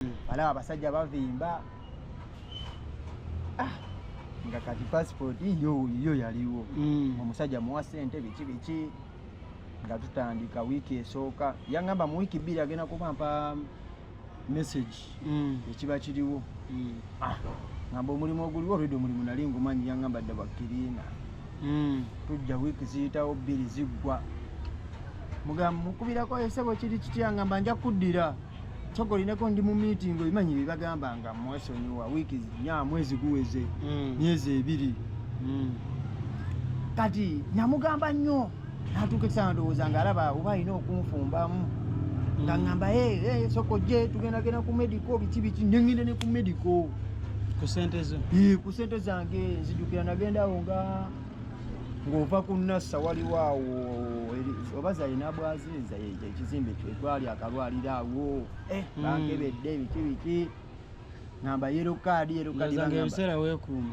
balaba hmm. abasajja bavimba ah, nga kati passport yo yo yaliwo hmm. omusajja muwa sente biki biki nga tutandika wiiki esooka yangamba mu wiiki bbiri agenda kubampa message hmm. ekiba kiriwo ah, ngamba omulimu oguliwo olwedde omulimu nali ngumanyi yangamba dda bakiriina hmm. tujja wiiki ziyitawo bbiri ziggwa mugamba mukubirako esebo kiri kitya ngamba nja kuddira soka olineko ndi mu miitingi obimanyi byebagamba nga mwesonyiwa wiiki nya mwezi guweze hmm. myezi ebiri hmm. kati namugamba nnyo natuuka ekisaana ndowooza nga alaba oba alina okunfumbamu nga ngamba soko je tugendagenda ku medico biki biki nengenda ne ku medico ku sente zange nzijukira nagendawo nga ng'ova ku nassa waliwo awo oba zalina bwaziza ekizimbe kyetwali akalwaliro awo eh, hmm. bankebedde biki biki ngamba yero kaadi yero kaadi ebiseera weekuuma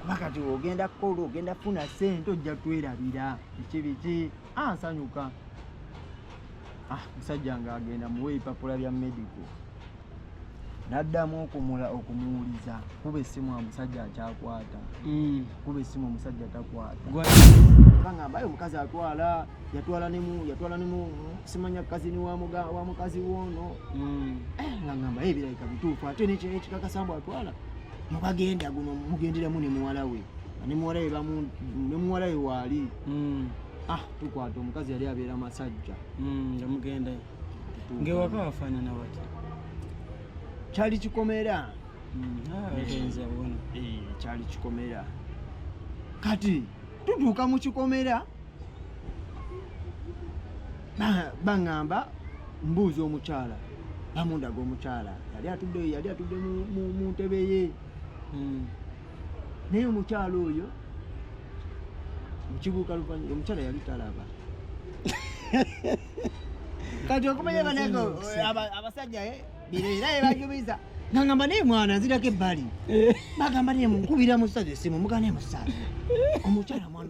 kuba kati ogenda kukola ogenda kufuna sente ojja twerabira biki biki ansanyuka ah, ah, musajja nga agenda muwa ebipapula bya medico naddamu okumula okumuwuliza kuba essimu omusajja akyakwata mm. kuba essimu omusajja takwataangamba yo omukazi atwala yatwala nemu yatwala nemu simanya kazini wa mukazi woono mm. eh, ngangamba ebirabika bituufu ate nekyo ekikakasambwa atwala mubagenda guno mugenderemu ne muwala we ne muwala we bamu ne muwala we waali hmm. ah tukwata omukazi yali abeera masajja hmm, nga mugenda ngewaka wafaanana wati kyali kikomera hmm, ah, eh, kyali kikomera kati tutuuka mu kikomera baŋŋamba mbuuza omukyala bamundaga omukyala yali atudde yali atudde mu ntebe ye hmm. naye omukyala oyo mukibuuka luvanyuma omukyala yali talaba kati okumanya banange abasajja eh, bireera yebajubiza ngangamba naye mwana nzirako ebbali eh. bagamba naye munkubira musaza esimu mugana emusaza omukyala mwana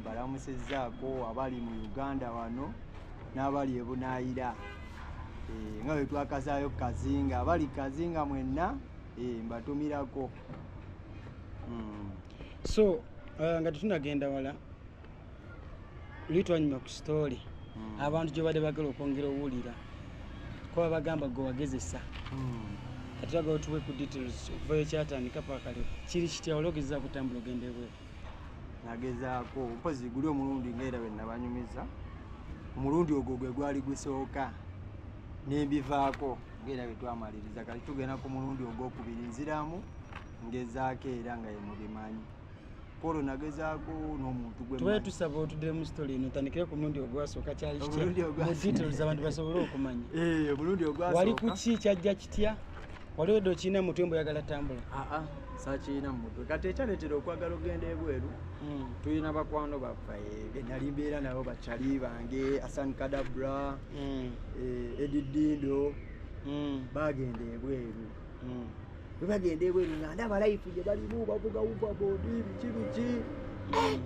mbalamusizaako abali mu uganda wano n'abali ebunaayira eh, nga bwe twakazaayo kazinga abali kazinga mwenna eh, mbatumirako hmm. so uh, nga tetunagenda wala luli twanyuma ku sitoole hmm. abantu gyebadde bagala okwongera owulira kuba bagamba gwe wagezesa hmm. kati baga otuwe ku details okuvayo kyatandika pakaleo kiri kitya ologeza kutambula ogendebweru nagezaako mpozi guli omulundi nga era bwenabanyumiza omulundi ogwo gwe gwali gusooka nembivaako ngaera bwetwamaliriza kati tugenda ku mulundi ogwokubiri nziramu ngezaako era nga yemubimanyi kolo nagezaako nomuntu gwetusaba otudire mu sitole ino tandikire ku mulundi ogwasooka kyaliomulundi ogwasoka abantu basobole okumanya eh, omulundi ogwasooka wali kuki kyajja kitya waliwo edde okirina mu mutwe mbu oyagala tambula aa ah, ah, sakirina mu mutwe kati ekyaletera okwagala okugenda ebweru hmm. tulina bakwano baffe eh, benali mbeera nabo bacali bange asan kadabra hmm. eh, edidindo hmm. bagenda ebweru webagenda ebweru nga ndaba life gye balimu bavuga uva bodi biki biki eh,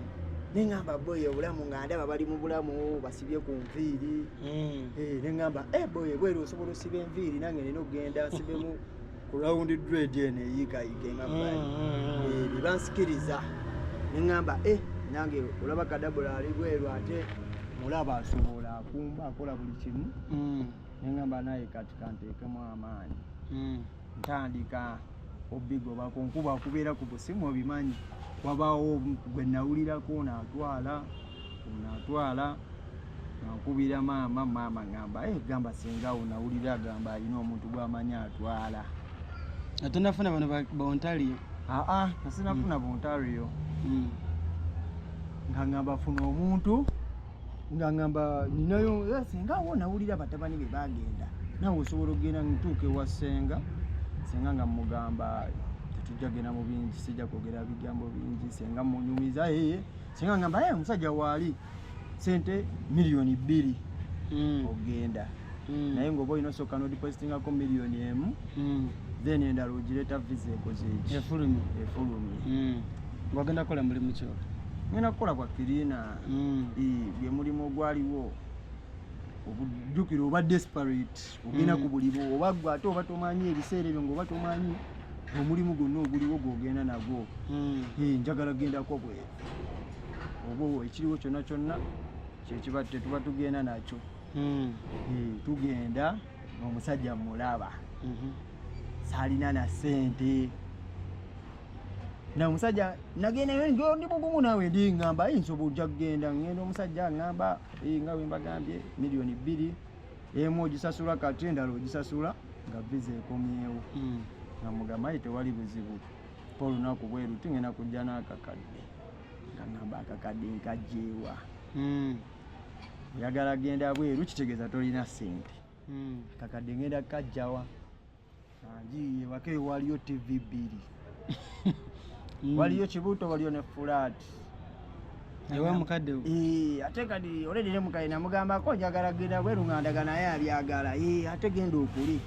nengamba boyo obulamu nga ndaba bali mu bulamu sibye ku nviiri mm. eh, ne ŋŋamba eh, boy ebweru osobola osiba enviiri nange nina okugenda nsibemu ku rawundi dred eno eyiikayiika engambaye mm, mm, eh, bye bansikiriza ne ŋŋamba e nange olaba kadabula ali bweru ate mulaba asobola akumba akola buli kimu ne ŋŋamba naye kati kanteekemu amaanyi ntandika obigoba ku nkuba kubeera ku busimu obimanyi wabaawo gwe nawulirako onaatwala onaatwala nankubira maama maama gamba e eh, gamba singawo nawulira gamba alina omuntu gwamanyi atwala atonafuna bano bontaliyo aa nasinafuna mm. bontaliyo mm. nga ngamba funa omuntu nga ngamba ninayo eh, senga wo nawulira batabani be bagenda nawe osobola okugenda ntuuka ewa senga senga nga mugamba tetujja genda mu bingi sijja kwogera bigambo bingi senga munyumiza eye senga ngamba ye eh, omusajja waali sente miliyoni bbiri mm. ogenda mm. naye ngaoba olina osooka nodipositingako miliyoni emu mm. then endala ogireeta visa ekoze eki efulumye efulumye mm. ng'ogenda kukola mulimu kyo ngenda kukola kwa kirina mm. gwe mulimu ogwaliwo obujjukire oba desperate ogenda mm. ku bulibo oba gwe ate oba tomanyi ebiseera ebyo ngaoba tomanyi omulimu gwonna oguliwo gwogenda nagwo mm. njagala gendako bwe oba ekiriwo kyonna kyonna kyekiba tetuba tugenda nakyo tugenda omusajja mulaba mhm. salina na sente na omusajja nagendayo njo ndi mugumu nawe ndi ngamba yi nsobo ojja kugenda ngenda omusajja ngamba nga wembagambye miliyoni bbiri emu ogisasula kati endala ogisasula nga viza ekomyewo mm. nga mugamba yi tewali buzibu pa olunaku bweru tingenda kujja n'akakadde nga ngamba akakadde nkajjeewa mm. oyagala genda bweru kitegeeza tolina sente hmm. kakadde ngenda kajjawa anjiye wake waliyo tv bbiri hmm. waliyo kibuto waliyo ne fulaati ewa mukadde eh, ate kadi oledi ne mukadde namugambako njagala genda bweru nga ndaga naye abyagala eh, ate genda okuli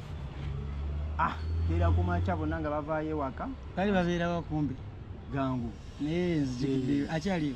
ah era kumakya bonna nga bavaayo ewaka kali babeerawo kumbi gangu naye nzijukidde eh. akyaliyo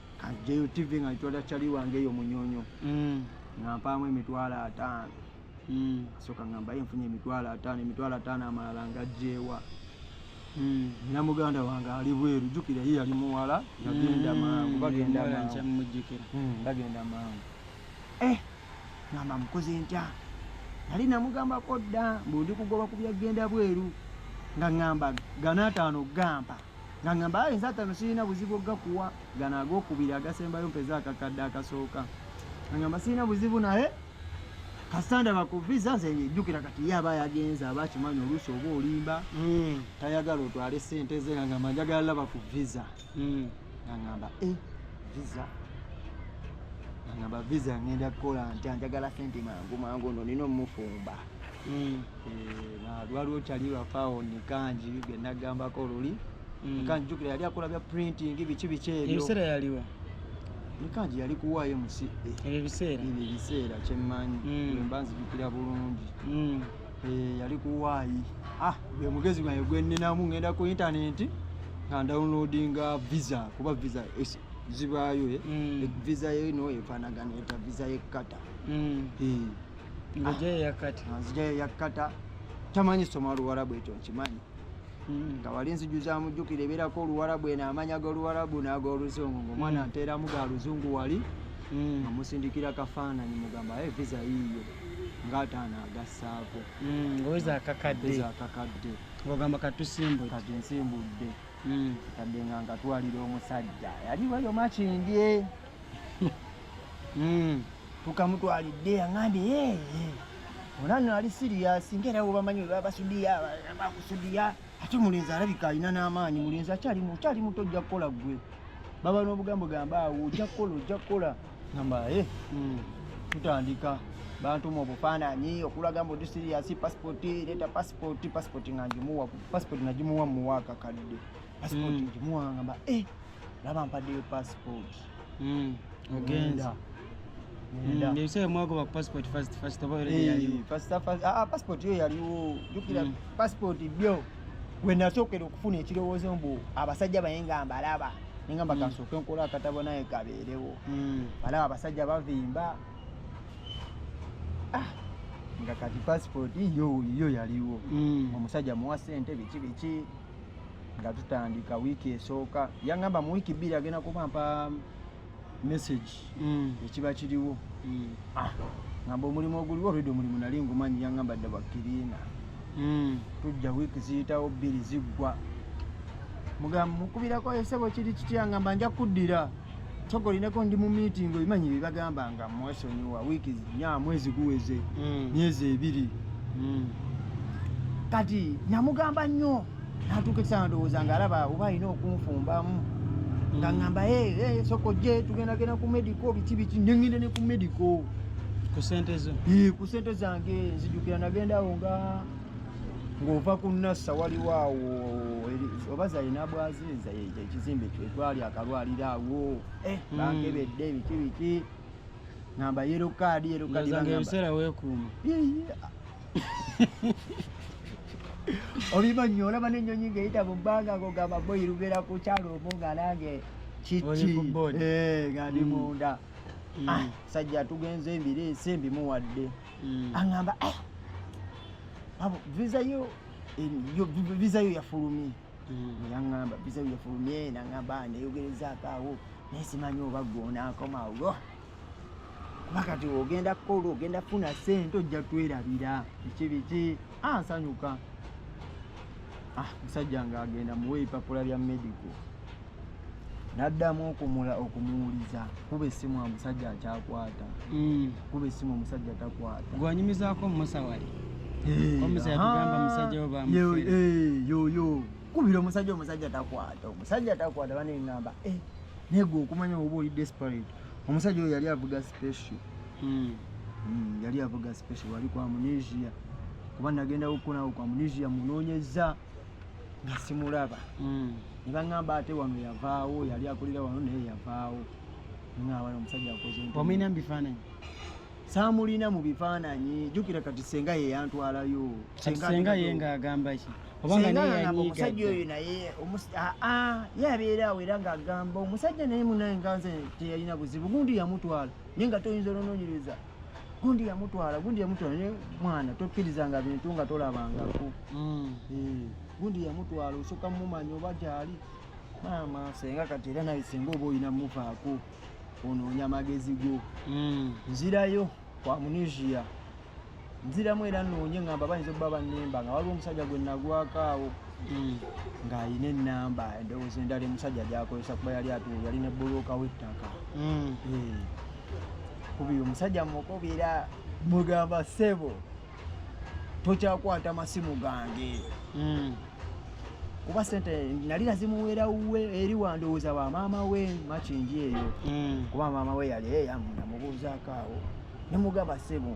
kanjeyo tv nga nitwala cali wange eyo munyonyo mm. nga mpaamu emitwalo ataano mm. soka nga mbaye nfunye emitwalo ataano emitwalo ataano amalala nga jeewa mm. nina muganda wange ali bweru jukira ye yali muwala yagenda mangu bagenda mangu bagenda mangu eh ngamba mukoze ntya nali namugambako dda mbu ndi kugoba ku byagenda bweru nga ngamba ganaataano gampa nga ngamba aye nze atano sirina buzibu ogakuwa gana agokubiri agasembayo mpeze akakadde akasooka ngamba sirina buzibu naye kasita ndaba ku visa nze ngejjukira kati ye aba yagenze aba akimanyi oluusi oba olimba hmm. tayagala otwale sente ze nga ngamba njagala laba ku visa hmm. nga ngamba e visa nga ngamba visa ngenda kukola ntya njagala sente mangu mangu no nina omufumba mm. eh, lwaliwo kyali lwafaawo nikanji byenagambako luli mm. nikanji jukira yali akola bya printing biki biki ebyo ebiseera yaliwa nikanji yali kuwaayo musi ebyo ebiseera ebyo ebiseera kyemmanyi mm. wemba nzijukira bulungi eh, yali kuwaayi ah gwe mugezi gwange gweninamu ngenda ku intaneti nga ndownloadinga visa kuba visa zibaayo eh? visa eno efaanagana eta visa yekukata ngojeyo yakata ah, nzijayo yakata tamanyi soma oluwarabu ekyo nkimanyi hmm. nga wali nzijuza mujjukira ebeerako oluwarabu eno amanya goluwarabu nagoluzungu ngaomwana hmm. nteeramu ga luzungu wali hmm. nga musindikira kafaananyi mugamba aye visa yiiyo ngaataano agassaako ngoeza akakadde akakadde ogamba katusimbudde kati nsimbudde kadde nga ngatwalira omusajja yali wayo makindye Hmm. tukamutwalidde yangambye yeye onano ali siriyasi ngaera webamanyi webabasudiya bakusudiya ate mulenzi alabika alina n'amaanyi mulenzi akyali mukyali muto ojja kukola gwe baba n'obugambo gamba awo ojja kukola ojja kukola gamba e hmm, tutandika bantuma obufaananyi okulaga mbu dusiriyasi pasipoti leeta pasipoti pasipoti nga ngimuwa pasipoti nagimuwa muwa akakadde pasipoti hmm. ngimuwa ngamba e eh, laba mpaddeyo passport mm, ogenza mm, ah, passport yo yaliwo jukira mm. passport byo wenasookera okufuna ekirowoozo mbu abasajja baye nga mbalaba nengamba kansooke nkola akatabo naye kabeerewo balaba abasajja bavimba ah, nga kati passport yo yo yaliwo omusajja muwa sente biki biki nga tutandika wiiki esooka yaŋamba mu wiiki bbiri agenda kubampa message mm. ekiba kiriwo mm. ah, ŋamba omulimu oguliwo redi omulimu nali ngumanyi yaŋamba dda bakiriina mm. tujja wiiki ziyitawo bbiri ziggwa mugamba mukubirako esebo kiri kitya ŋamba nja kuddira soka olinako ndi mu meeting obimanyi byebagamba nga mwesonyiwa wiiki nya mwezi guweze mm. myezi ebiri mm. kati namugamba nnyo natuuka ekisaa ndowooza nga alaba oba alina okunfumbamu mm. nga ngamba soka ojje tugendagenda ku medico biki biki nengenda ne ku medico ku sente zange nzijukira nagendawo nga ng'ova ku nassa waliwo awo oba zalina bwaziza ekizimbe kyetwali akalwaliro awo eh, hmm. bankebedde biki biki ngamba yero kaadi yero kaadiebiseera wekuuma obiba nyo olaba nenyonyi ngaeyita mu bbanga ngogamba boyi lubera ku kyalo omu nga nange kiki eh, nga ndi hmm. munda hmm. ah, sajja tugenze ebireese mbimuwadde mm. aŋamba eh, abo visa yo yo visa yo yafulumye mm. yaŋamba visa yo yafulumye naŋamba neyogerezaako awo naye simanyi oba gwonakomawo kuba kati ogenda kukola ogenda kufuna sente ojja twerabira biki biki ansanyuka ah, ah, musajja nga agenda muwa ebipapula bya medical naddamu okumula okumuwuliza kuba essimu omusajja akyakwata mm. kuba essimu omusajja takwata gwanyumizaako omusawali yoyo kubira omusajja omusajja takwata omusajja takwata banengamba eh, negwe okumanya oba oli desperate omusajja oyo yali avuga special mm. Mm, yali avuga special wali kwa munesia kuba nagendawo okukonawo kwa munesia munonyeza nga simulaba mm. ne baŋŋamba ate wano yavaawo yali akulira wano naye yavaawo ŋŋamba nomusajja akoze omulina mu bifaananyi saamulina mu bifaananyi jjukira kati senga ye yantwalayo senga ye ng'agamba ki omusajja oyo naye aa ye abeera awo era ng'agamba omusajja naye munaye nganze teyalina buzibu gundi yamutwala naye nga toyinza olononyereza gundi yamutwala gundi yamutwala naye mwana tokkirizanga bintu nga tolabangako mm. eh, gundi yamutwala osooka mumanya oba gyali maama senga kati era naye senga oba olina muvaako onoonya amagezi go mm. nzirayo kwa munisia nziramu era noonye ngamba bayinza okuba bannemba nga waliwo omusajja gwe nagwako awo mm. ng'alina enamba endowooza endala emusajja gyakozesa kuba yali atu yali ne buluuka w'ettaka mm. eh. kubiri omusajja mukubira mugamba sebo tokyakwata masimu gange mm. kuba sente nali nazimuwera we eri wandowooza wa maama we makingi eyo kuba maama we yali eyamubuuzaako awo nemugamba sebo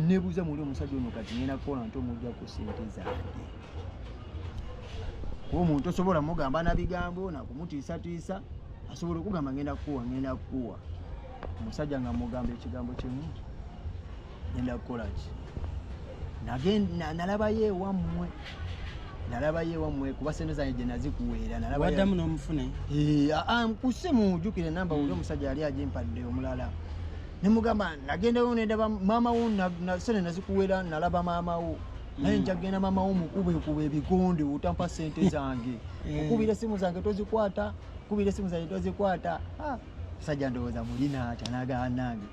nebuuza muli omusajja ono kati ngenda kukola nti omujja ku sente zange kuba omuntu osobola mugamba na bigambo nakumutiisatiisa asobola okugamba ngenda kukuwa ngenda kukuwa omusajja nga mugamba ekigambo kimu ngenda kukola ki nalabayo ewammwe nalabayo ewammwe kuba sente zange gye nazikuweera nalabawaddamu n'omufune nkuse mujukire namba wuli hmm. omusajja yali agimpadde omulala nemugamba nagendayo nendaba maama wo sente nazikuweera nalaba maama wo naye mm. njagenda mama wo mukube kuba ebigonde otampa sente eh. zange eh. okubira esimu zange tozikwata kubira esimu zange tozikwata ah, sajja ndowooza mulina atya nagaanange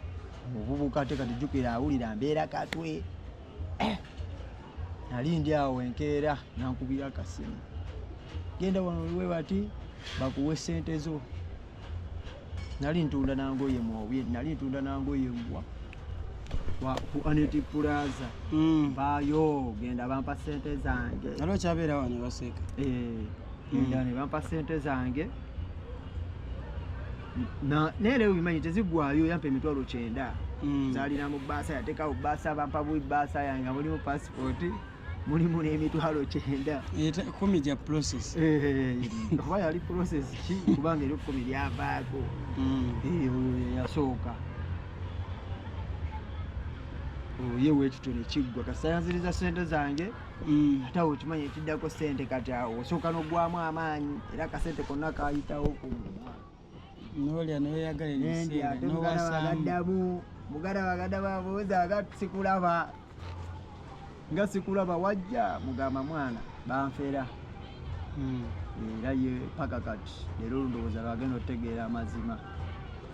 obubuka te kati jukira awulira mbeera katwe eh. nali ndi awo enkeera nankubira akasimu genda wano oliwe bati bakuwe sente zo nali ntunda nangoye mwobi nali ntunda nangoye mbwa ku aneti pulaza hmm. bayo genda bampa sente zange nali okyabeera wano baseka eh, genda hmm. ne bampa sente zange nere obimanyi tezigwayo yampa emitwalo kyenda mm. zalina mu baasa yatekawo baasa bampa bui baasa yange mulimu pasipoti mulimu n'emitwalo kyenda kumi gya process eh, eh, eh. oba yali process ki kubanga eri kumi lyavaako mm. oyo yasooka oye wekityo nekiggwa kasayanziriza sente zange mm. ate awo okimanyi ekiddako sente kati awo osooka nogwamu amaanyi era kasente konna kayitawo kumu nolya noyagala ebiseera nowasamu muganda baganda babuuza nga sikulaba nga sikulaba wajja mugamba mwana banfera hmm. era ye paka kati leero olundowooza lwagenda otegeera amazima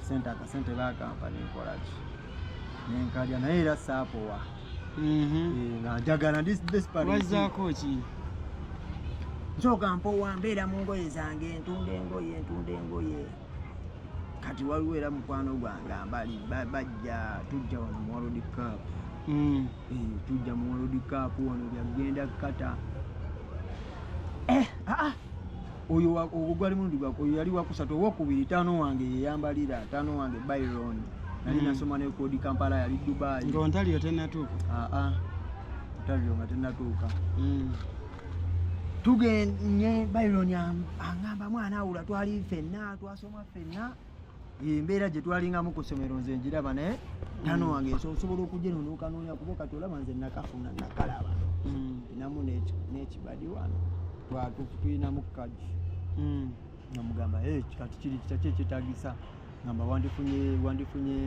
sente akasente bakampa nenkolaki nenkalya naye era saapowa wazzaako ki nsoka mpowa mbeera mu ngoye zange ntunda engoye ntunda engoye kati waliwo era mukwano gwange ambali bajja tujja wano mu world cup mm. eh, tujja mu world cup wano byagenda kata eh, ah, ah. oyo ogwo gwali mulundi gwako oyo yali wakusatu owokubiri taano wange yeyambalira taano wange byron nali mm. nasoma nekodi kampala yali dubai nga ontaliro tenatuuka aa ah, ah. ontaliro nga tenatuuka mm. tugenye byron angamba mwana awula twali fenna twasoma fenna embeera gye twalingamu ku ssomero nze ngiraba naye tano mm. wange osobola okugyenonookanoonya kuba kati olaba nze nakafuna nakalaba mm. namu nekibadi wano twatulinamu kaji mm. namugamba kati kiri kitaki ekyetagisa ngamba wandifunye wandifunye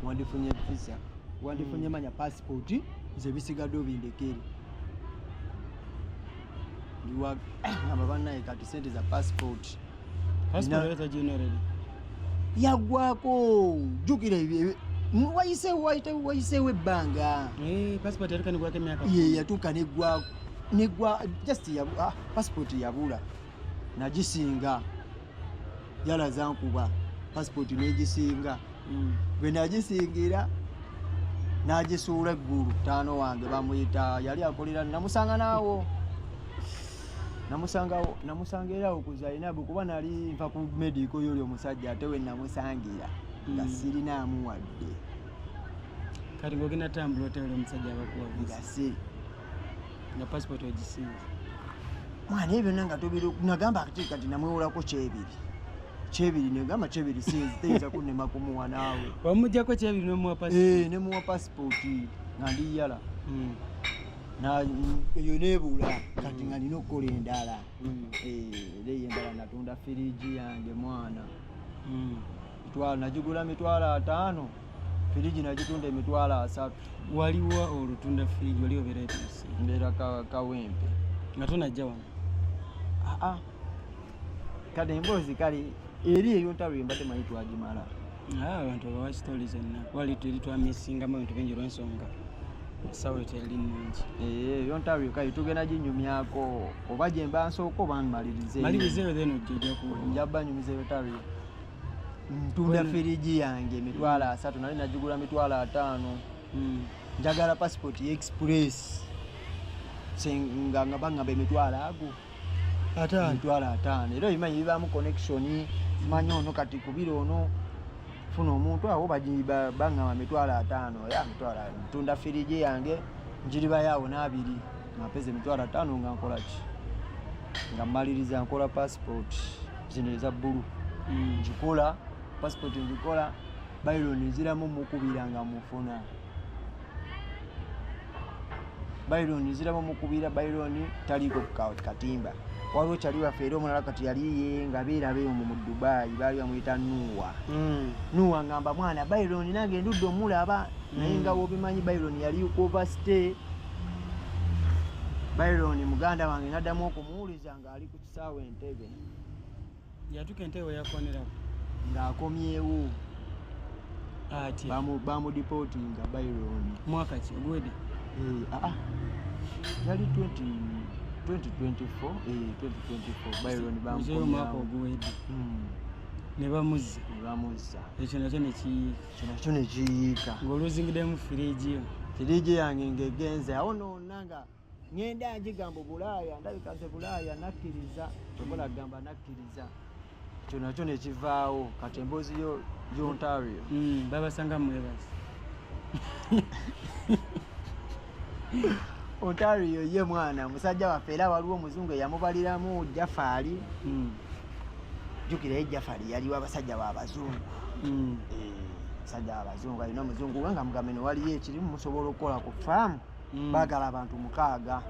wandifunye visa wandifunye manya pasipooti nze bisigadde obindekere ndiwa ngamba banaye kati sente za pasipooti yagwako jukira wayiseewo ebbanga yatuuka negwako negwa just ya ah, passport yabula nagisinga yalaza nkuba passport negisinga mm. bwe nagisingira nagisuula eggulu taano wange bamuyita yali akolera namusanga naawo namusangawo namusanga era okuza alina bwe kuba nali nva ku medico yoli omusajja ate we namusangira nga hmm. sirinaamu wadde kati ngogenda tambula otewera omusajja abakuwagasi nga pasipoti ogisinza mwana ebyo byonna nga tobiri nagamba kati kati namwewolako kyebiri kyebiri negamba kyebiri siyinza kunema kumuwa naawe wamujjako kyebiri nemuwa pasipoti eh, nga ndiyala hmm. eyo nebula kati nga nina okukola endala mm. eh, era eyo endala natunda firiji yange mwana mm. nagigula mitwalo ataano firiji nagitunda emitwalo asatu waliwo olutunda firiji wali obeera mbeera kawempe nga tonajja wano ah, ah. kati emboozi kale eri eyo ntalo ye mbadde manyi twagimala ah, abantu abawa sitoli zonna wali tuli twamisingamu ebintu bingi olwensonga esawa eteri nungi eh, eyo ntalo yoka yetugenda ginyumyako oba gyemba nsooka oba nmalirizemalirizeyo then ojjajaku nja banyumizeyo talo yo ntunda firiji yange emitwalo asatu nali nagigula mitwalo ataano hmm. njagala pasipoti express nga nga bangamba emitwalo ago emitwalo ataano era obimanyi bibaamu connection manyi ono kati kubira ono funa omuntu awo baŋama mitwalo ataano ya mitwalo ntunda firiji yange njiribayaawo n'abiri nampeza emitwalo ataano nga nkolaki nga mmaliriza nkola passport zino eza bbulu hmm. ngikola passport ngikola bayiro nenziramu mukubira nga mufuna baironi nziraba omukubira baironi taliiko katimba waliwo kyali waffe era omulala kati yaliye nga beerabeyo mu dubayi baali bamuyita nuwa hmm. nuwa ngamba mwana baironi nange ndudde omulaba hmm. naye nga wobimanyi baironi yali overstay baironi muganda wange naddamu okumuwuliza ng'ali ku kisaawa entebe yatuka entebe weyakonerawo ng'akomyewo ati bamudipotinga byron mwaka ki ogwede eh, ah, ah. yali 2024mwaka oguwede nebamuzza nebamuzza ekyo nakyo nekiyiika nakyo nekiyiika ng'oluzingidemu firiigiyo firiigi yange ng'egenze awo noona nga ŋŋenda ngigamba obulaaya ndabika nze bulaaya nakkiriza kyobola kugamba nakkiriza ekyo nakyo nekivaawo kati emboozi yo ontario hmm, babasanga mwebazi ontario ye mwana musajja waffe era waliwo omuzungu eyamubaliramu jafaali hmm. jukira ye jafaali yaliwo abasajja babazungu hmm. eh, musajja wabazungu alina omuzungu we nga mugambe newaliyo ekirimu musobola okukola ku faamu mm. bagala abantu mukaaga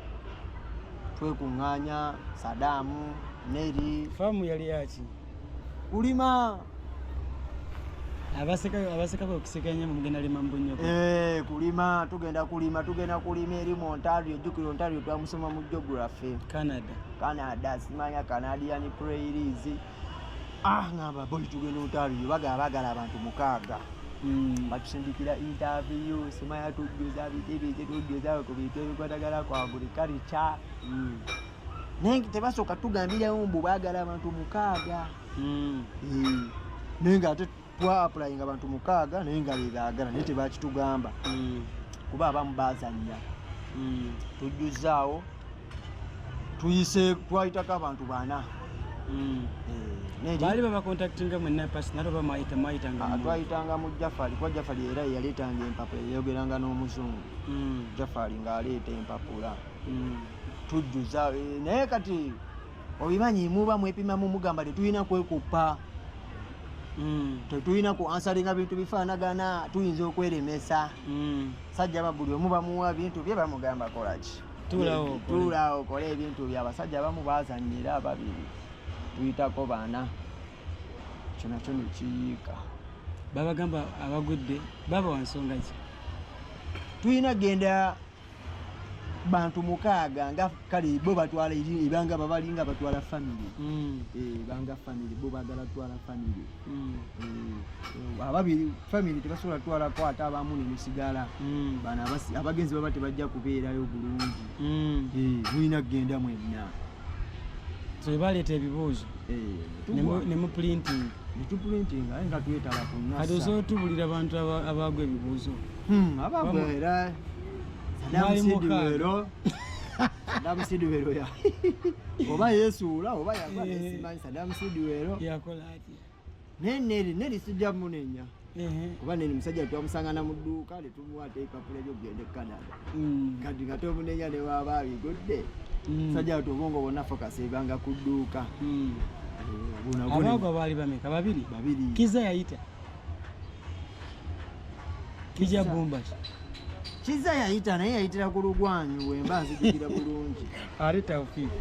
twekuŋŋaanya sadaamu neri faamu yali yaki kulima abasekako okusekanya mugenda lima mbunyo eh, kulima tugenda kulima tugenda kulima eri mu ontario jukira ontario twamusoma mu geography canada canada simanya canadian prairies ah ngamba boy tugenda otabiyo bagala bagala abantu mukaaga hmm. batusindikira interview simaya tujjuza bitebe kyetujjuza ku bintu ebikwatagala kwa buli kalica hmm. naye tebasooka tugambirawo mbu bagala abantu mukaaga hmm. eh, naye nga ate twapulayinga abantu mukaaga naye nga bebaagala naye tebakitugamba mm. kuba abamu bazanya mm. tujjuzaawo tuyise twayitako abantu bana mm. eh, baali babakontaktinga mwenapasnatwayitanga ah, mu jafali kuba jafali era yeyaleetanga empapula yeyogeranga n'omuzungu jafali ng'aleeta empapula tujjuza eh, naye kati obimanyi muba mwepimamu mugamba tetulina kwekuppa mm. tetulina ku ansalinga bintu bifaanagana tuyinza okweremesa mm. sajja babuli omu bamuwa bintu bye bamugamba kolaki tuula okole ebintu bye abasajja abamu bazanyira ababiri tuyitako baana kyona kyo nekiyiika babagamba abagudde baba wansonga ki tulina genda bantu mukaaga nga kale bo batwala ebanga babalinga batwala family mm. eh, banga family bo bagala twala family mm. eh, ababiri family tebasobola twala ko ate abamu nemusigala mm. bana abagenzi baba tebajja kubeerayo bulungi eh, mulina kugenda mwenna twebaleeta ebibuuzo eh, ne mu printing kati osobola tubulira abantu abaagwa ebibuuzo hmm, abagwera damusidibero damusidibero oba yesuula oba yagwa eh. nesimanyi sadamusidibero yakola atya naye neri neri sijja munenya kuba neri musajja twamusangana mu dduuka ne tumuwaata ebipapula ebyokugenda e canada mm. kati nga tomunenya ne waaba abigudde mm. musajja watu obwongo bwonna fokasebanga ku dduuka mm. eh, abaago baali bameka babiri babiri kiza yayita kija bumba kiza yayita naye yayitira ku lugwanyu wemba nzijukira bulungi ate tawfiiki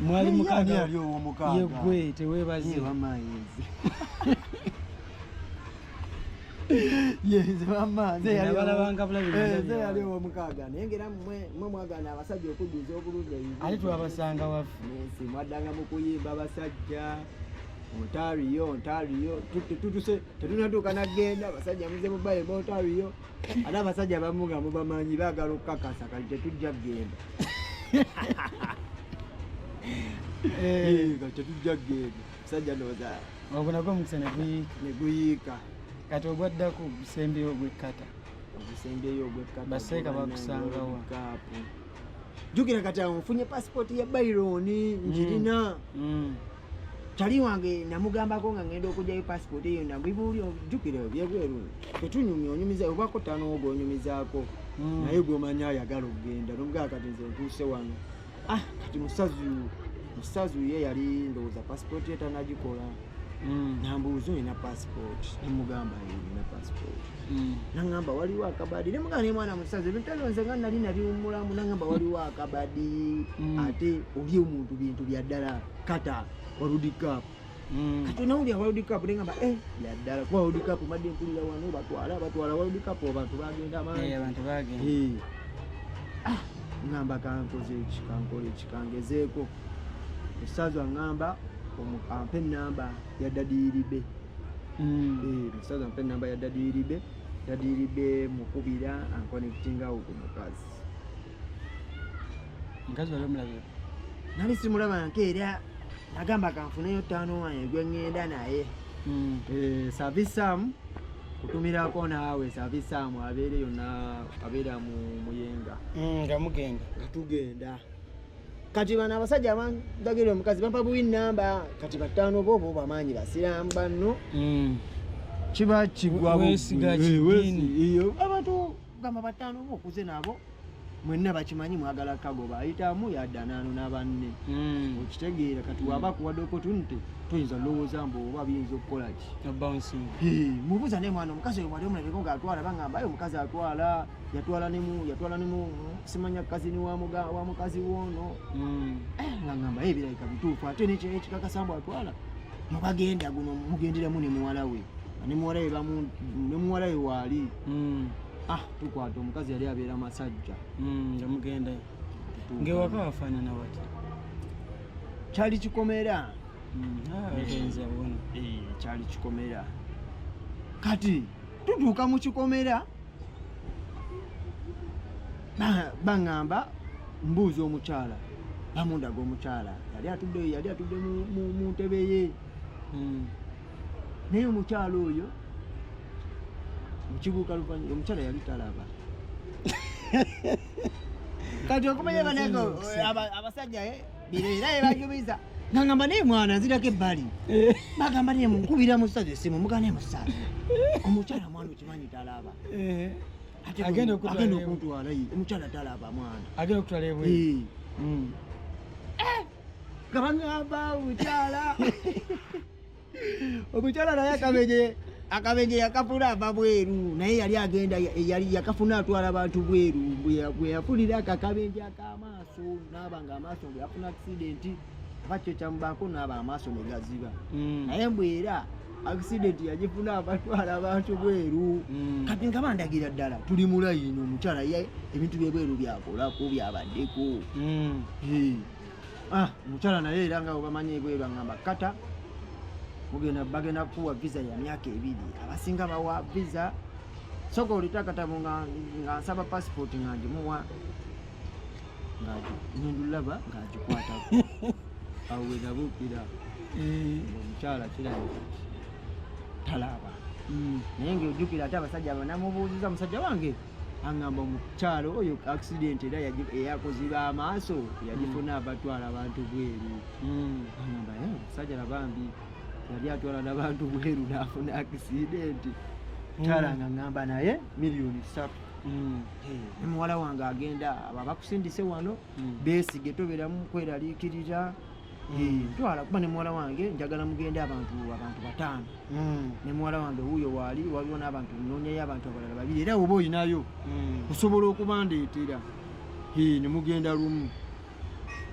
mwali mukaaga ali owo mukaaga yegwe tewebaze ye mama yezi yezi mama ze yali bala banga bula bina eh, ze yali owo mukaaga naye ngera mwe mwe mwagana abasajja okujuza obulungi ebibi ali twabasanga wafu nsi mwadanga mu kuyimba abasajja ontariyo ontariyo tutuse tetunatuuka nagenda abasajja muze mubaye mu ontariyo ate abasajja abamu nga mubamanyi baagala okukakasa kati tetujja kugenda kati tetujja kugenda musajja ndowooza ogwo nagwo omukisa neguyiika kati ogwaddako ogusembyeyo ogwekkata ogusembeyo ogwekkata baseeka bakusangawa jukira kati awo nfunye pasipooti ya byron njirina mm. mm. tali wange namugambako nga ngenda okujayo pasipooti eyo nabibuuli jukira byebweru tetunyumya onyumiza obako tanowo gwonyumizaako mm. naye gwomanyi ayagala okugenda nomugaa kati nze ntuuse wano ah kati musazi musazi ye yali ndowooza pasipooti ye tanagikola Mm. nambuuza olina passport nemugamba olina passport mm. nangamba waliwo akabadi nemugamba naye mwana musaza ebintu ebyo nze nga nali nabiwumulamu nangamba mm. waliwo akabadi ate oli omuntu bintu byaddala kata waludikap kati onawulira waludikap nengamba e eh, byaddala kuba waludikap madde mpulira wano batwala batwala waludikap abantu bagenda mangi eh, eh. ah, ngamba kankoze eki kankole eki kangezeeko omusaza aŋamba ampe enamba ya dadiyiribe mm. eh, omusaza ampe enamba ya dadiyiribe dadiyiribe mukubira ankonektingawo ku mukazi mukazi wali omulabira nali simulaba nke era nagamba kanfuneyo taano wange gweŋŋenda naye mm. eh, savisamu kutumirako naawe savisamu abeereyo abeera muyenga mm, nga mugenda tugenda kati bano abasajja abandagirira omukazi bampa buwi namba kati bataano bo bo bamaanyi basiraamu banno hmm. kiba kigwabantu eh, gamba bataano bo okuze nabo mwenna bakimanyi mwagala kagoba ayitamu yadanaano nabanne hmm. okitegeera kati waba hmm. kuwadde opportunity toyinza lowooza mbu oba biyinza okukola ki mubuuza naye mwana omukazi oyo wali omulabeko ngaatwala bangamba aye omukazi atwala yatwala ne mu yatwala ne mu simanya kazini wa muga wa mukazi wono mm. eh ngamba eh bila ikabitufu ate ne kye kikaka sambo atwala mu bagenda guno mugendera mu ne muwala we ne muwala we bamu ne muwala we wali mm. ah tukwata omukazi yali abeera masajja mm yamugenda ngewaka wafana na wati chali chikomera mm ah kenza bona eh chali chikomera kati tuduka mu chikomera baŋŋamba mbuuza omukyala bamundaga omukyala yali atudde yali atudde mu ntebe ye hmm. naye omukyala oyo mukibuuka luvanyuma omukyala yali talaba kati okumanya banange abasajja eh, bireera yebajubiza ngangamba naye mwana nzirako ebbali eh. bagamba naye munkubira musaza esimu mugana emusaza omukyala mwana Tumanyi talaba. Eh. Ate agenda okutwala agenda okutwala yi. Omukyala talaba mwana. Agenda okutwala ebwe. Eh. Mm. Eh. Kabangaba omukyala. Omukyala naye akabeje akabeje yakafuna ava bweru naye yali agenda yali yakafuna atwala abantu bweru bwe yafunira akakabeje akamaaso n'abanga amaaso bwe yafuna accident oba kyekyamubaako naaba amaaso negaziba mm. naye mbu era accident yagifuna abatwala abantu bweru mm. kati nga bandagira ddala tuli mulayini omukyala ye ebintu byebweru byakolako byabaddeko mm. ah, omukyala naye era nga obamanyi ebweru angamba kata mugenda bagenda kukuwa visa ya myaka ebiri abasinga bawa visa soka olitakatabu nga nsaba passport nga ngimuwa ng'agihindulaba ng'agikwatako awo we nabuukira eh. omukyala kirabika talaaba hmm. naye ng'ojjukira ate abasajja abanamubuuziza musajja wange aŋamba omukyalo oyo accident era eyakuziba amaaso yagifuna abatwala hmm. abantu bweru hmm. aŋamba eh, musajja nabambi yali atwala nabantu bweru nafuna accident hmm. kyala nga ŋamba naye miliyoni satu Mm. ne muwala wange agenda abo abakusindise wano Mm. beesige tobeeramu kweraliikirira Mm. Eh, ntwala kuba ne muwala wange njagala mugende abantu abantu bataano Mm. ne muwala wange wuuyo waali waliwo n'abantu noonyayo abantu abalala babiri era oba olinayo Mm. osobola okubandeetera Eh, ne mugenda lumu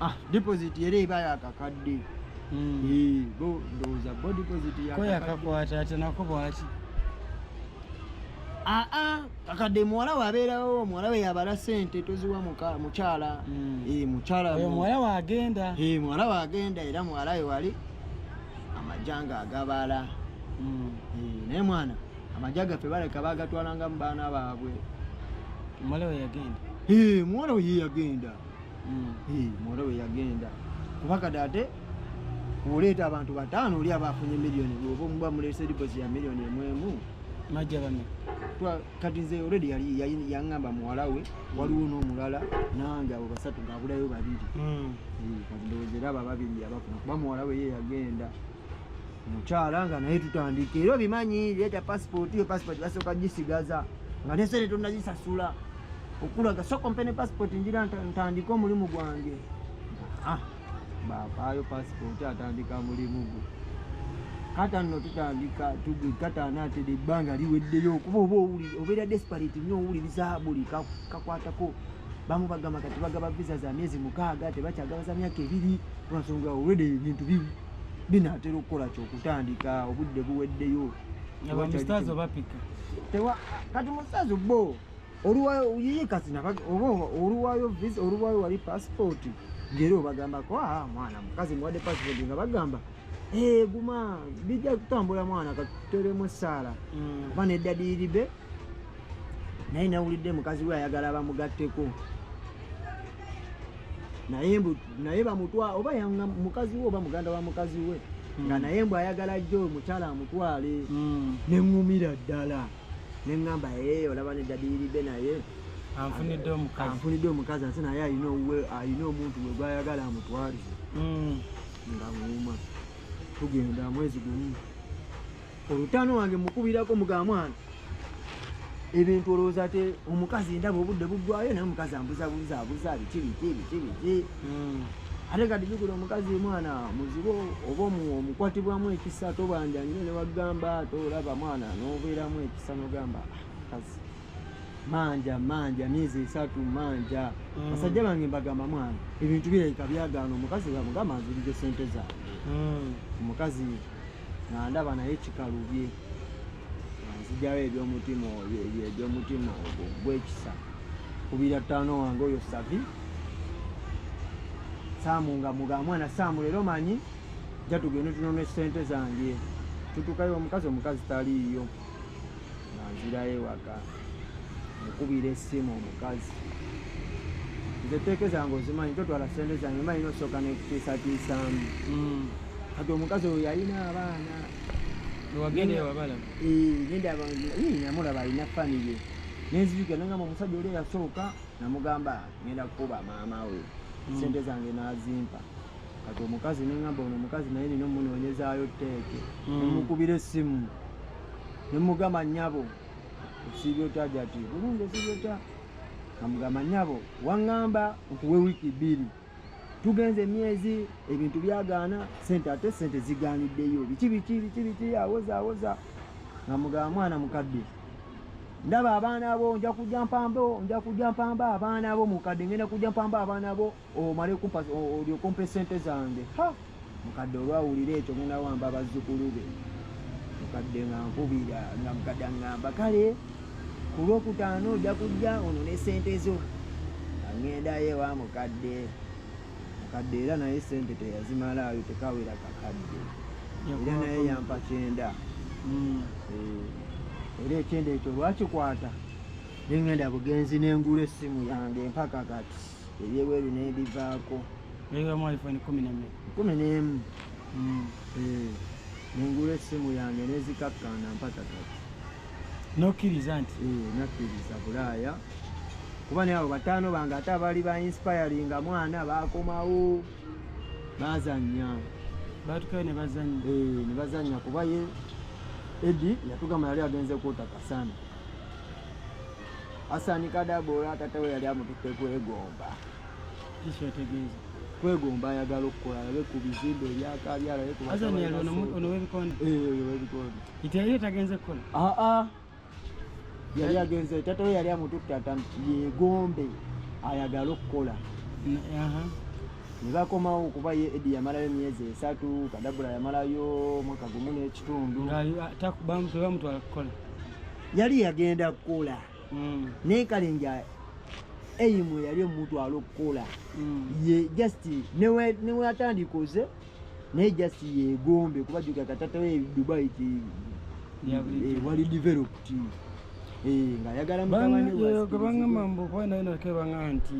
ah deposit era eba yakakadde hmm. eh, bo ndowooza bo deposit yakakakwata ate nako bwaki aa ah, ah, kakadde muwala we abeerawo muwala we yabala sente toziwa mukyala hmm. eh, mukyala muwala we agenda eh, muwala we agenda era muwala we wali amajanga agabala hmm. naye mwana amagye gaffe baleka bagatwalangamu baana baabwe muwala we yagenda muwala we yeyagenda hmm. muwala we yagenda kuba kati ate oleeta abantu bataano oli aba afunye miliyoni oba omuba mulese liposi ya miliyoni emwemu majja bano kati nze olredi yaŋamba muwala we waliwo n'omulala nange abo basatu ngaabulayo babiri hmm. eh, kati ndowooza era aba babiri yabafuna kuba muwala we ye yagenda mukyala nga naye tutandika era obimanyi leeta pasipooti yo pasipooti basooka gisigaza nga nesente tonazisasula okulaga so kompe ne pasipooti njira ntandika omulimu gwange ah, bapaayo pasipooti atandika mulimu gwe kata nno tutandika kataana atede ebbanga liweddeyo kuba oba owulire obeera desperate nyo owuliriza buli kakwatako bamu bagamba kati bagaba visa za myezi mukaaga tebakyagaba za myaka ebiri lwansonga olwede ebintu bibi binaatera okukola ki okutandika obudde buweddeyo abamustaazi obapika tewa kati mustaazi bo oluwayo yiye kati oba oluwayo visa oluwayo wali pasipooti ngaera obagambako a ah, mwana mukazi muwadde pasipooti nga bagamba eh, guma bijja kutambula mwana katuteremu essaala mm. oba neddadiiribe naye nawulidde mukazi we ayagala bamugatteko naye mbu naye bamutwa oba yanga mukazi we oba muganda wa mukazi we hmm. nga naye mbu ayagala jjo omukyala amutwale hmm. ne ŋŋumira ddala ne ŋŋamba ee eh, olaba ne dadiyiride naye anfunidde omukazi ate naye alina omuntu we gwayagala amutwalize hmm. nga ŋuuma tugenda mwezi gumu olutano wange mukubirako muga mwana ebintu olowooza ate omukazi endaba obudde buggwayo naye omukazi ambuzabuza abuza biki biki biki biki hmm. ate kati bigula omukazi mwana muzibu oba omukwatibwamu ekisa tobanja nyo newagamba ate olaba mwana nobeeramu ekisa nogamba ah, kazi manja manja myezi esatu manja hmm. basajja bange mbagamba mwana ebintu birabika byagaana omukazi bamugamba nzirize sente zaabwe hmm. omukazi nga ndaba naye kikalubye nzijawo ebyomutima ebyomutima ogwo gwekisa kubira ttaano wange oyo savi saamu nga muga mwana saamu leero manyi ja tugende tunona esente zange tutukayo omukazi omukazi taliiyo nga nzirayo ewaka mukubira essimu omukazi nze teeke zange ozimanyi totwala sente zange manyi nosooka nekutiisatiisaamu hmm. kati omukazi oyo yalina abaana namulaba alina famiye nenzijuka nengamba omusajja oli eyasooka namugamba ngenda kukuba maama we hmm. sente zange nazimpa kati omukazi nengamba ono omukazi naye nina omunoonyezayo teeke hmm. nemukubira essimu nemugamba nyabo osiibye otya jati bulungi osiibye otya amugamba nyabo waŋŋamba nkuwe wiiki bbiri tugenze emyezi ebintu byagaana sente ate sente zigaaniddeyo biki biki biki biki awoza awoza amugamba mwana mukadde ndaba abaana bo nja kujja mpambo nja kujja mpamba abaana bo mukadde ngenda kujja mpamba abaana bo omale kumpa olyoka ompa esente zange ha mukadde olwawulira ekyo ngenda wamba abazzukulu be mukadde nga nkubira nga mukadde angamba kale ku lwokutaano ojja kujja ono ne sente zo angendayo ewa mukadde mukadde era naye sente teyazimalaayo tekawera kakadde era naye yampa kyenda hmm. eh, era ekyenda ekyo lwakikwata nengenda bugenzi nengula essimu yange mpaka kati ebyebweru nebivaako kumi nemu mm. eh, nengula essimu yange nezikakkana mpaka kati nokkiriza nti eh, nakkiriza bulaaya kuba naye abo bataano bange ate abaali ba inspiringa mwana bakomawo bazanya batukayo nebazanya eh, nebazanya kuba ye edi yatugamba yali agenze kwotakasana Asani Kadagora tata we yali amututte kwegomba. Kiki otegeeza? Kwegomba ayagala okukola alabe ku bizimbe ebyaka byalabe ku Asani yali ono ono w'ebikonde. Eh, oyo w'ebikonde. Ite yali tagenze kukola? Ah ah. Yali agenze tata we yali amututte ata yegombe ayagala okukola. Aha. Ne bakomawo kuba ye Edi yamalayo emyezi esatu, Kadagora yamalayo mwaka gumu n'ekitundu. Nga bamutwala kukola. yali yagenda kukola mm. naye kale nga eyimu yali omutwala okukola mm. ye just newatandika oze naye just yegombe kuba juga katatawo edubai ti eh, wali developed eh, ngayagala mutabani wabanga mambo kwana ina kebanga nti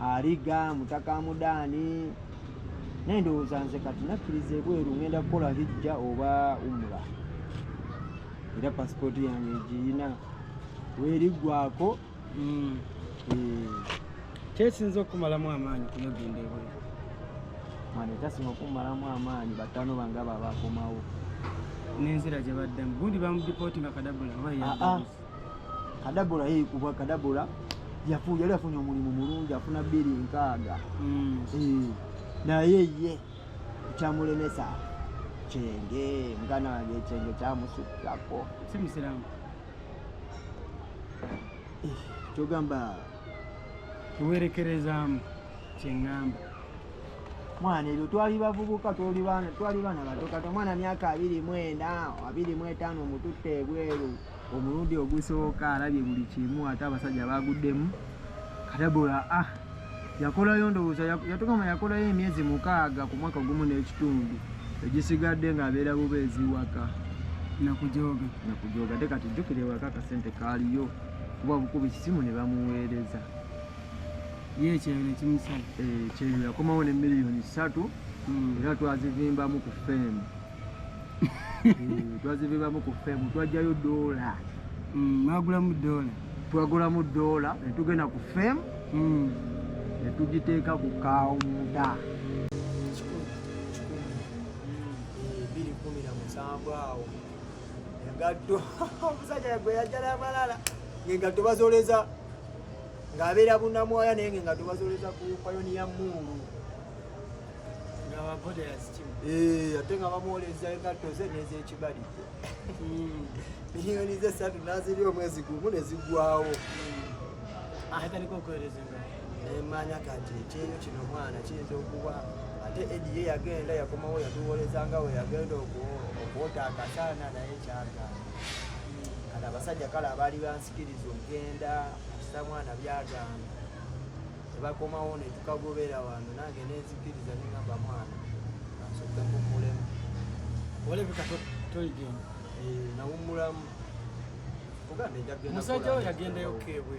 aliga mutaka amudaani naye ndowooza nze kati nakkiriza ebweru ngenda kukola hijja oba umura era pasipooti yange egiyina weriggwako mm. eh. kyesinza okumalamu amaanyi kuyogenda ebweru mwana ekyasinga okumalamu amaanyi batano banga babakomawo nenzira gye baddamu gundi bamudipooti nga kadabula oba ah, ah. kadabula yekubwa kadabula yafu yali afunye omulimu mulungi afuna bbiri nkaaga mm. eh, naye ye kyamulemesa kyenge muganda wange ekyenge kyamusukkako si musiramu eh, kyogamba kiwerekerezaamu kyeŋŋamba mwana ebyo twali bavubuka twali baana bato kati omwana myaka abiri mu ena abiri mu etaano omututte ebweru omulundi ogusooka alabye buli kimu ate abasajja baguddemu katabula ah yakolayo ndowooza yatugamba yakolayo emyezi mukaaga ku mwaka gumu n'ekitundu egisigadde ng'abeera bubeezi waka nakujooga nakujooga te kati jjukira ewaka akasente kaaliyo kuba bukuba ekisimu ne bamuweereza ye ekyeyo ne kimusala eh, ekyeyo yakomawo ne miliyoni ssatu hmm. era twazivimbamu ku feemu eh, twazivimbamu ku feemu twajjayo doola hmm, mwagulamu doola twagulamu doola ne tugenda ku feemu hmm. ne tugiteeka ku kawunda biri kumi na musanvu awo engatto omusajja gwe yajjala amalala ng'engatto bazoleza ng'abeera bunamwaya naye ng'engatto bazoleza ku payoniya muulu eh, ate nga bamwoleza engatto ze n'ezekibalizo hmm. miliyoni ze satu naziri omwezi gumu nezigwawo hmm. nemmanya kati ekyeyo kino mwana kiyinza okuba ate edi ye yagenda yakomawo yatuwoleza nga we yagenda okwota akasana naye kyagana kati abasajja kale abaali bansikiriza okugenda kisa mwana byagamba tebakomawo netukagobera wano nange nenzikiriza nengamba mwana asoke mumulemu olebeka toligenda eh, nawumulamu ogambmusajja we yagendayo kebwe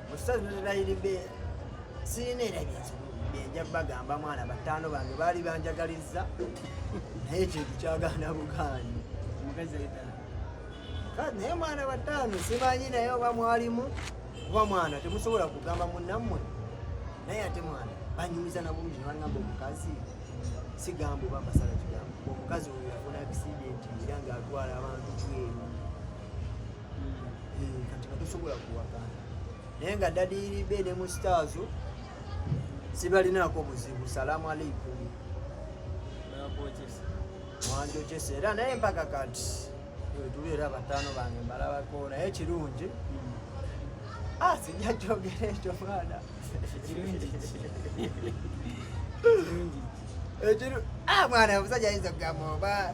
musazulirayiridde sirina era byenja bagamba mwana bataano bange baali banjagalizza naye ekintu kyagana bugaanyi naye mwana bataano simanyi naye oba mwalimu kuba mwana temusobola kugamba munammwe naye ate mwana banyumiza nabulungi nebagamba omukazi sigamba oba mbasala kigambo omukazi oyo yafuna accident era ngaatwala abantu bweru eh, kati batusobola kuwakana naye nga dadiribe ne mu sitaazo sibalinaako buzibu salaamu aleikum wanjokyesa era naye mpaka kati wetuli era bataano bange mbalabako naye kirungi hmm. ah sijja kyogera ekyo mwana ekiro ah, mwana omusajja ayinza okugamba oba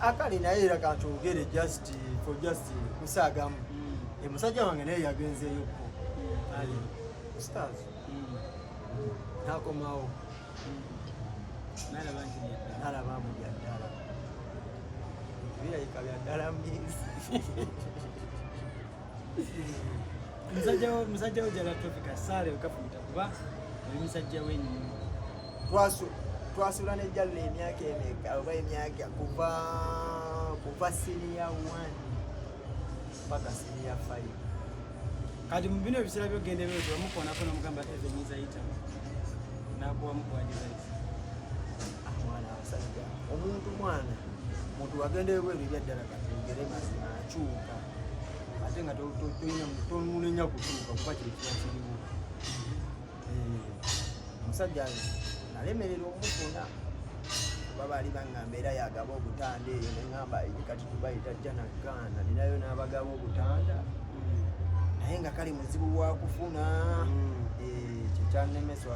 akali naye era katwogere just for just kusaagamu mm. omusajja wange naye yagenzeeyo ko mm. ali ustaz mm. nakomawo nalaba mu byaddala birayika byaddala mbizi musajja wo jala tofika saale okafumita kuba oli musajja wenyini twasula ne jalla emyaka emeka oba emyaka kuva kuva siniya one mpaka siniya five kati mu bino ebiseera byogenda ebyozi wamukoonako nomugamba evenyiza yita nakuwa mukuwajizaiza mwana abasajja omuntu mwana muntu wagendeyo bweru ebyaddala katugere mazima akyuka ate nga tomunenya kutuuka kuba kye kiba kiriwo eh, omusajja nalemerera omufuna kuba baali baŋŋamba era yagaba obutanda eyo neŋŋamba kati tubayita jja nagaana ninayo n'abagaba obutanda naye nga kale muzibu wakufuna hmm. eh, kyekyanemeswa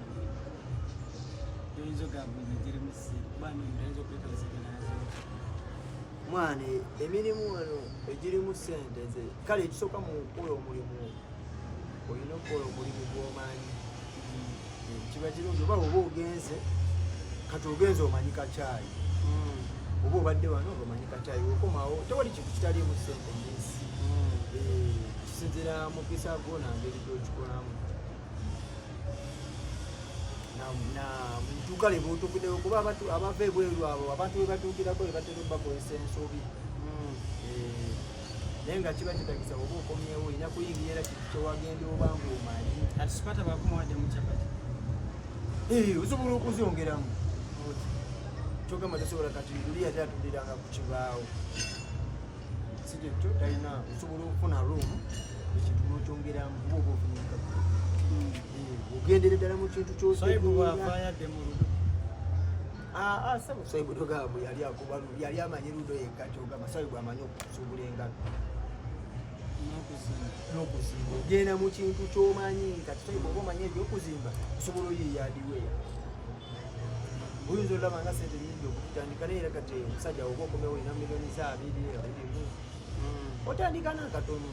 mwana emirimu wano egirimu sente ze kale ekisooka mu kukola omulimu olina okukola omulimu gwomanyi kiba kirungi oba oba ogenze kati ogenze omanyi kakyayi hmm. oba obadde wano omanyi kakyayi okomawo tewali kintu kitaliimu sente nyinsi hmm. eh, kisinzira mukisa gwo nangeri gyokikolamu na muduuka lye buutukidewo kuba abantu abava ebweru abo abantu be batuukirako be batera obakozesa ensobi hmm. eh, naye nga kiba kitagisa oba okomyewo olina kuyingira era kintu kyewagenda oba ngaomanyi atisipata bakumawadde mukyapati eh, osobola okuzongeramu kyogamba tosobola kati luli yali atuliranga ku kibaawo sikyekyo talina osobola okufuna room ekintu nokyongeramu kuba oba ofunika hmm. ogendere ddala mu kintu kyosaibwavaayadde mu ludo aa sebo saibu togambo yali akuba yali amanyi ludo yekka kyogamba saibu amanyi okusuubula engalo nokuzimba ogenda mu kintu kyomanyi kati saibu oba omanyi ebyokuzimba osobola oyiyaadiweya oyinza olaba nga sente nyingi okutandika naye era kati omusajja woba okomewo olina milioni za abiri abirimu hmm. otandika nakatono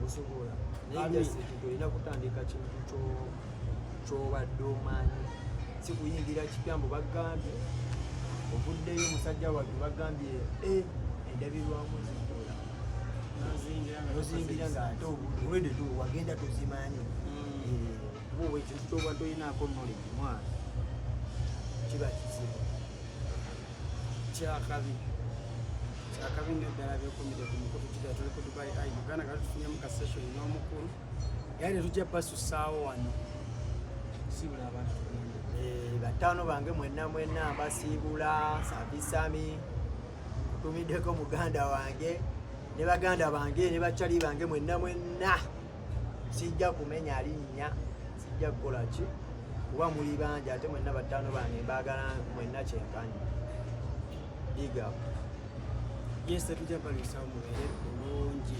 osobola naye ekintu olina kutandika kintu kyobadde omanyi sikuyingira kipya mbu bagambye ovuddeyo omusajja watu bagambye eh, endabirwamu zikula nozingira nga ate obulwede tu wagenda tuzimanyi hmm. eh. kuba oba ekintu kyoba tolinaako knowledge mwana kiba kizibu kyakabi kyakabi nyo ddala byokumide ku mukutu kidaa tuli ku dubai i uganda nga tutufunyemu ka session n'omukulu era netujja basusaawo wano siibula abantu eh, bataano bange mwenna mwenna mbasiibula sabisami tumiddeko muganda wange ne baganda bange ne bacali bange mwenna mwenna sijja kumenya linnya sijja kukola ki kuba muli bangi ate mwenna battaano bange mbaagala mwenna kyenkanyi biga yese tujja balusa mubeere bulungi